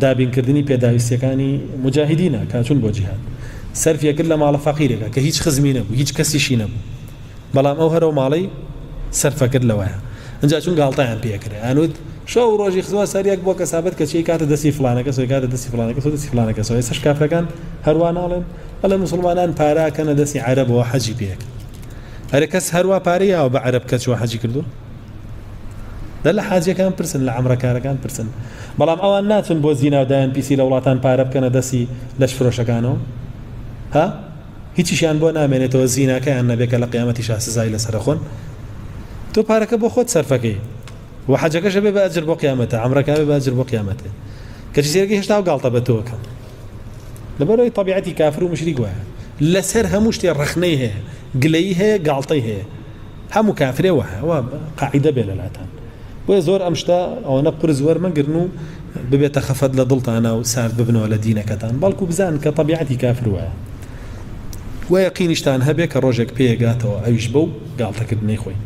دابین کردنی پێداویستیەکانی موجاهیدینە کە ئەچون بۆ جیهاد سەرفی ئەکرد لە ماڵە فەقیرێکە کە هیچ خزمی نەبوو هیچ کەسیشی نەبوو بەڵام ئەو هەرەو ماڵەی سەرفەکرد لەوەیە ئەجا چون گاڵتەیان پێکرێ ئەنوت شەو و ڕۆژی خزمەت سەریەک بۆ کەسابەت کە چی کاتە دەستی فلانەکە سۆی کاتە دەستی فلانەکە سۆ دەستی فلانەکە سۆ ئێسش کافرەکان هەروە ناڵێن بەڵێ مسلمانان پاراکەنە دەستی عەرەبەوە حەجی پێکرد هەرە کەس هەروە پارەی یاوە بە عەرەب کەچوە حەجی کردو دە لە حاجەکان پرسن لە عمرەکارەکان پرسن بەڵام ئەوان ناچن بۆ زینا و دایان پیسی لە وڵاتان پارە بکەنە دەسی لەش فرۆشەکانەوە ها هیچیشیان بۆ نامێنێتەوە زیناکەیان نەبێت کە لە قیامەتی شا سزای لەسەرخۆن تۆ پارەکە بۆ خۆت سەرفەکەی و حەجەکەشە بێ بەجر بۆ قیامەتە ئەمرەکاوێ بەجر بۆ قیامەتێ کەچی سێرگی هێشتا و گاڵتە بە تۆکە لەبەرەوەی طبیعەتی کافر و مشری گوایە لەسەر هەموو شتێ ڕخنەی هەیە گلەی هەیە گاڵتەی هەیە هەمو کافرێ وایە وا قاعیدە بێ لەلاتان بۆیە زۆر ئەم شتە ئەوەنە قورس وەرمەگرن و ببێتە خەفەت لە دڵتانا و سارد ببنەوە لە دینەکەتان بەڵکو بزان کە طبیعەتی کافر وایە وە یەقینیشتان هەبێ کە ڕۆژێک پێیەگاتەوە ئەویش بەو گاڵتەکردنەی خۆی